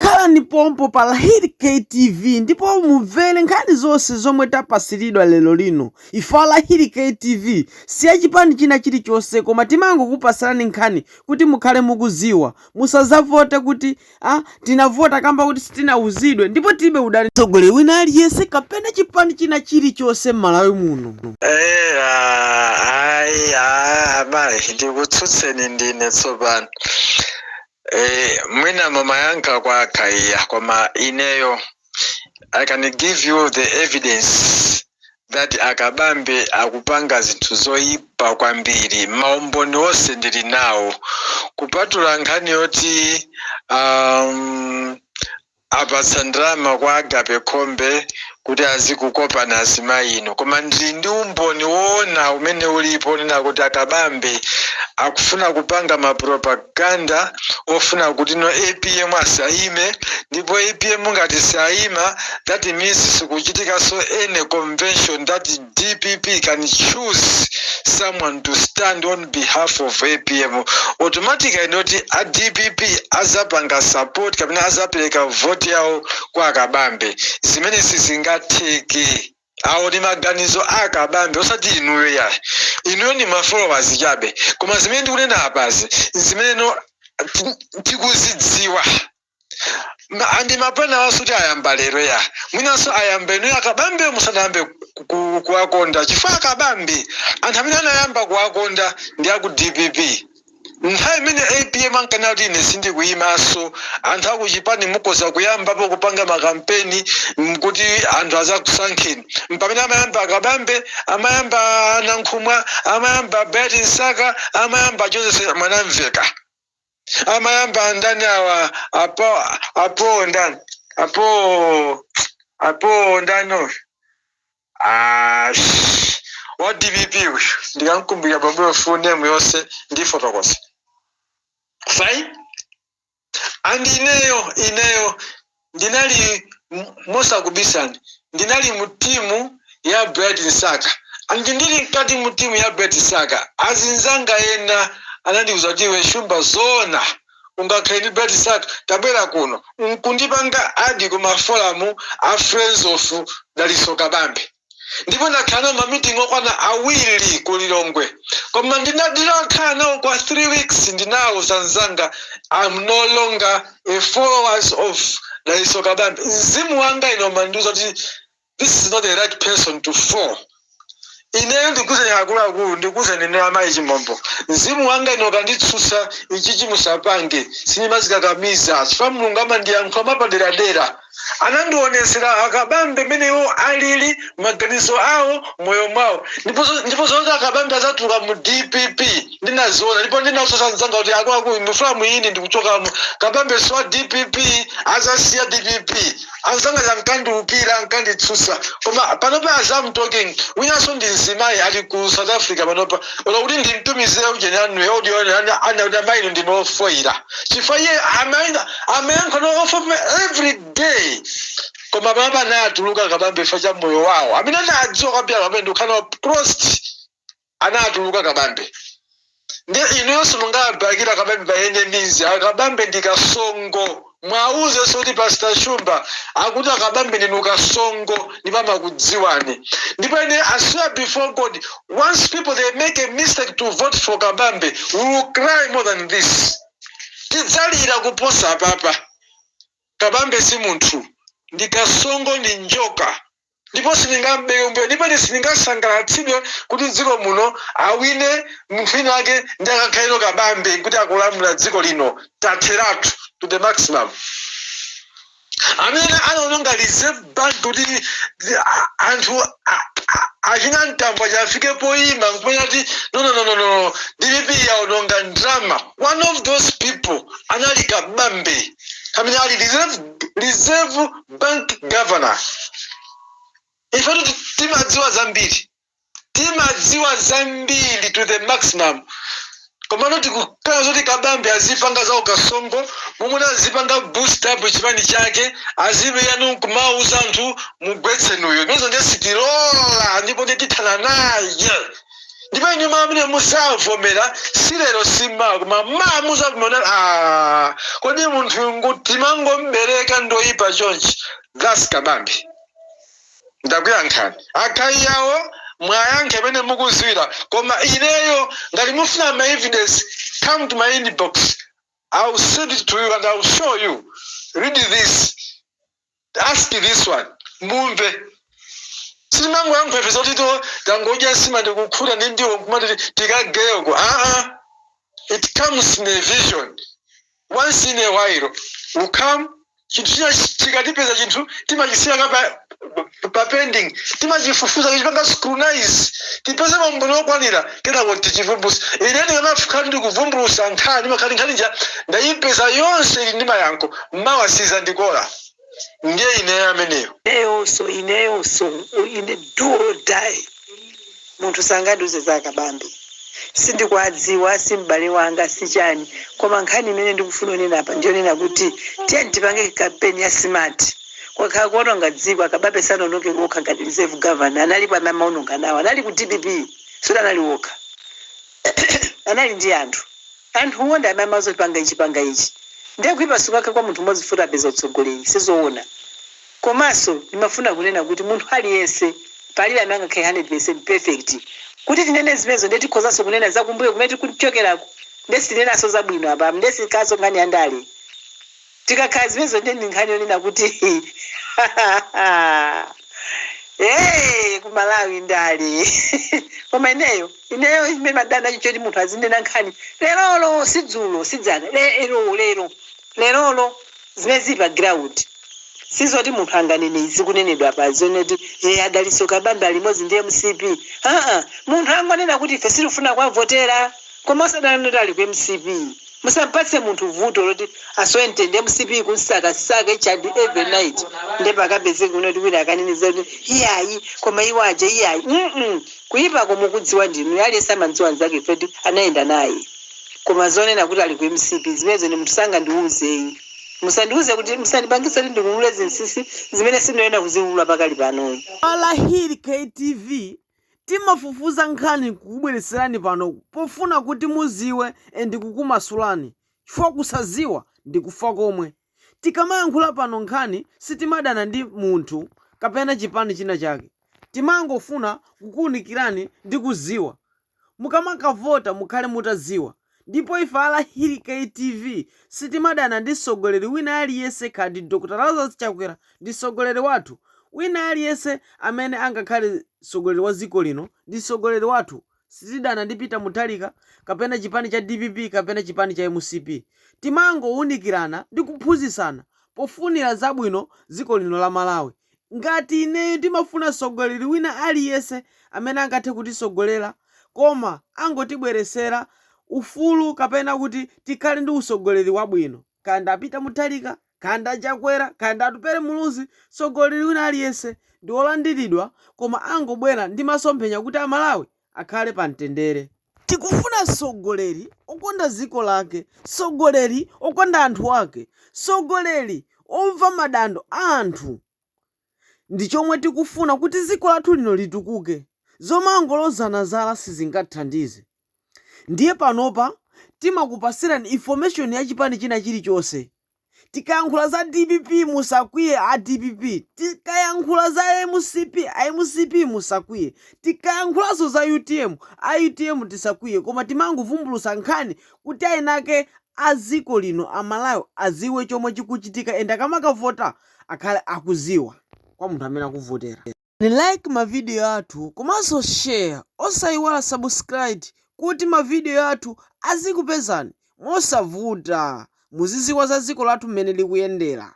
Khalani pompo pa Lahiri K TV ndipo mumvere nkhani zonse zomwe tapasiridwa lero lino. Ife a Lahiri K TV si ya chipani china chilichonse koma timangokupasirani nkhani kuti mukhale mukuziwa. Musazavote kuti a tinavota kamba kuti sitinawuzidwe ndipo tilibe udani ndi mtsogoleri wina aliyense kapena chipani china chilichonse m'Malawi muno. Eya ayi abale ndikutsutseni ndine tsopano Eh, mwina mumayankha kwa a Khaiya koma ineyo i can give you the evidence that a Kabambe akupanga zinthu zoyipa kwambiri maumboni onse ndili nawo kupatula nkhani yoti um, apatsa ndalama kwa Agape Khombe kuti azikukopani azimayi inu. Koma ndili ndi umboni woona umene ulipo onena kuti a Kabambe akufuna kupanga ma propaganda ofuna kuti no apm asayime ndipo apm ngati sayima that means sikuchitikanso any convention that dpp can choose someone to stand on behalf of apm automatically ndoti a dpp azapanga support kapena azapereka vote yawo kwa a Kabambe zimene sizingatheke awo ndi maganizo a a Kabambe osati inuyo yayi inuyo ndi ma followers chabe koma zimene ndikunena apazi zimene no- ti- tikuzidziwa Ma- and mapulani awa si oti ayamba lero yayi mwinanso ayamba inuyo a Kabambe musanayambe ku- ku- kuwakonda chifukwa a Kabambe anthu amene anayamba kuwakonda ndi aku dpp nthawi imene apm ankanena kuti ine sindikuyimanso anthu akuchipani mukhoza kuyambapo kupanga makampeni mm, kuti anthu azakusankheni mpamene amayamba a Kabambe amayamba Nankhumwa amayamba Bright Msaka amayamba Joseph Mwanamvekha amayamba ndani awa apo apo ndani apo apo ndani uyu Ah, sh- wa dpp uyu ndikamukumbukira bamboyo full name yonse ndifotokoza fine and ineyo ineyo ndinali mosakubisani ndinali mu timu ya Bright Msaka and ndili mkati mu timu ya Bright Msaka azinzanga ena anandiuza kuti iwe Shumba zoona ungakhale ndi Bright Msaka tabwera kuno nkundipanga add ku ma forum a friends of Dalitso Kabambe ndipo ndakhala nawo ma meeting okwana awiri ku Lilongwe koma ndinakhala nawo kwa 3 weeks ndinawuza anzanga I'm no longer a followers of Dalitso Kabambe mzimu wanga ine umandiuza kuti this is not the right person to follow ineyo ndikuze akuluakulu ndikuze nene amayi chimombo mzimu wanga ine ukanditsutsa ichichi musapange sindimadzikakamiza chifukwa mulungu amandiyankhula mwapaderadera anandionetsera a Kabambe mmene iwo alili, maganizo awo, moyo mwawo. Ndipo, ndipo zoti a Kabambe adzatuluka mu dpp ndinaziona ndipo ndinawauza anzanga kuti akuluakulu ndikufuna mudziwe ine ndikuchokamo. Kabambe si wa dpp, adzasiya dpp. Anzanga aja ankandiukira, ankanditsutsa. Koma panopa as I'm talking, winanso ndi mzimayi ali ku South Africa panopa. Olo kuti ndimtumizire ujeni wanuyo audio anene kuti amayi inu ndinu ofoira. Chifukwa iye amayi Amayankhula over me every day koma panopa anatulukira kabambe chifukwa cha moyo wawo amene anawadziwa kwambiri anthu amene akukhala nawo close anatulukira kabambe nde inuyonso mungabakire kabambe by any means akabambe ndi kasongo mwauzenso kuti pastor shumba akuti akabambe ndinu kasongo ndipo amakudziwani ndipo ine i swear before god once people they make a mistake to vote for kabambe we will cry more than this Tidzalira kuposa apapa. Kabambe si munthu, ndi kasongo ndi njoka ndipo sindingam'bere kumbuyo ndipo ine sindingasangalatsidwe kuti m'dziko muno awine munthu wina wake ndiye akakhale ndi Kabambe kuti akulamula dziko lino. Tatheratu to the maximum. amene anaononga reserve bank kuti anthu achina mtambo akafike poyima nkumanena kuti no, no, no, no, no. dpp yaononga ndrama one of those people anali kabambe pamene anali reserve, reserve bank governor ifetu timadziwa zambiri Timadziwa zambiri to the maximum komano tikukana zoti Kabambe azipanga za ukasongo momwe azipanga boost up chipani chake ali mu DPP yanu nkumawuza anthu mugwetse inuyo zimenezo ndiye sitilola ndipo ndiye tithana naye ndipo inu amene muzavomera si lero si mawa koma mawa muzavomera kuti ah kodi munthu uyu timangom'bereka ndoyipa chonchi that's Kabambe. ndakuyankhani a guy awo mwayankha mmene mukudziwira koma ineyo ngati mufuna ma evidence come to my inbox ill send it to you and ill show you read this ask this one mumve sitimangoyankhula ife zoti tangodya nsima ndikukhuta ndi ndiwo nkumati tikageyeko aa it comes in a vision Once in a while you come chinthu chikatipeza chinthu timachisiya kaye pa pending timachifufuza kuchipanga scrutinize tipeze maumboni okwanira kenako tichivumbutsa ine ndikamakhala ndikuvumbulutsa nkhani makhala nkhani ija ndayipeza yonse ili ndi mayankho mawa sizandikola ndiye ineyo ameneyo. Ineyonso, ineyonso, ine do or die, munthu sangandiuze za Kabambe, sindikuwadziwa, si m'bale wanga, si chani, koma nkhani imene ndikufuna kunena apa ndiyonena kuti tiyeni tipange kampeni ya smart, kwakhala kuononga dziko, a Kabambe sanaononge okha ngati reserve governor, analipo amene amaononga nawo, anali ku dpp, sikuti anali okha. anali ndi anthu. Anthuwo ndi amene amawauza kuti panga ichi panga ichi. Ndiye kuipa sikukhala kwa munthu mmodzi poti apeza utsogoleri sizoona. Komanso ndimafuna kunena kuti munthu aliyense palibe amene angakhale 100% perfect. Kuti tinene zimenezo ndiye tikhozanso kunena za kumbuyo kumene tikuchokerako ndiye sitinenanso zabwino apa ndiye siyikhalanso nkhani ya ndale. Tikakhala zimenezo ndiye ndi nkhani yonena kuti hey, ku Malawi ndale koma ineyo ineyo chimene madana nacho choti munthu azinena nkhani lerolo si dzulo si dzana lero lero lerolo zimene zili pa ground sizoti munthu anganene izi kunenedwa pano zonena kuti hey, a Dalitso Kabambe ali limodzi ndi mcp aa munthu angonena kuti ife sitifuna kuwavotera koma osanena kuti ali ku mcp Musampatse munthu vuto loti asowe mtendere mcp ikunsakasaka each and every night nde pakapezekenso kuti wina akanene za kuti iyayi koma iwo aja iyayi mm kuipako mukudziwa ndinu aliyense amamdziwa mnzake chifukwa choti anayenda naye koma zonena kuti ali ku mcp zimenezo ine munthu sangandiuzeyi musandiuze kuti musandipangitse kuti ndiulule zinsisi zimene sindiyenera kuziulula pakali panoyi. Walahii KTV Timafufuza nkhani nkukubweletserani pano pofuna kuti muziwe and kukumasulani chifukwa kusaziwa ndi kufa komwe. Tikamayankhula pano nkhani sitimadana ndi munthu kapena chipani china chake. Timangofuna kukuunikirani ndi kuziwa. Mukamakavota mukhale mutaziwa. Ndipo ife a Lahiri KTV sitimadana ndi msogoleri wina aliyense kaya ndi Dr Lazarus Chakwera ndi msogoleri wathu, wina aliyense amene angakhale msogoleri wa dziko lino ndi msogoleri wathu, sitidana ndi Peter Mutharika kapena chipani cha dpp kapena chipani cha mcp, timangowunikirana ndi kuphunzitsana pofunira zabwino dziko lino la Malawi, Ngati ineyo ndimafuna sogoleli wina aliyense amene angathe kutisogolela koma angotibwelesela ufulu kapena kuti tikhale ndi usogoleli wabwino kaya ndi a Peter Mutharika kaya ndi a Chakwera kaya ndi Atupele Muluzi sogoleli wina aliyense ndiwolandilidwa koma angobwela ndi masomphenya kuti amalawi akhale pa mtendere. Tikufuna mtsogoleri okonda dziko lake, mtsogoleri okonda anthu ake, mtsogoleri omva madandaulo a anthu. Ndi chomwe tikufuna kuti dziko lathu lino litukuke. Zomangolozana zala sizingathandize. Ndiye panopa timakupatsirani information ya chipani china chilichonse Tikayankhula za dpp musakwiye a dpp, tikayankhula za mcp a mcp musakwiye, tikayankhulanso za utm a utm tisakwiye koma timangovumbulutsa nkhani kuti eni ake a dziko lino, Amalawi, adziwe chomwe chikuchitika and akamakavota akhale akudziwa kwa munthu amene akuvotera. like ma video athu komanso share osaiwala subscribe kuti ma video athu azikupezani mosavuta muzidziwa za dziko lathu mmene likuyendera.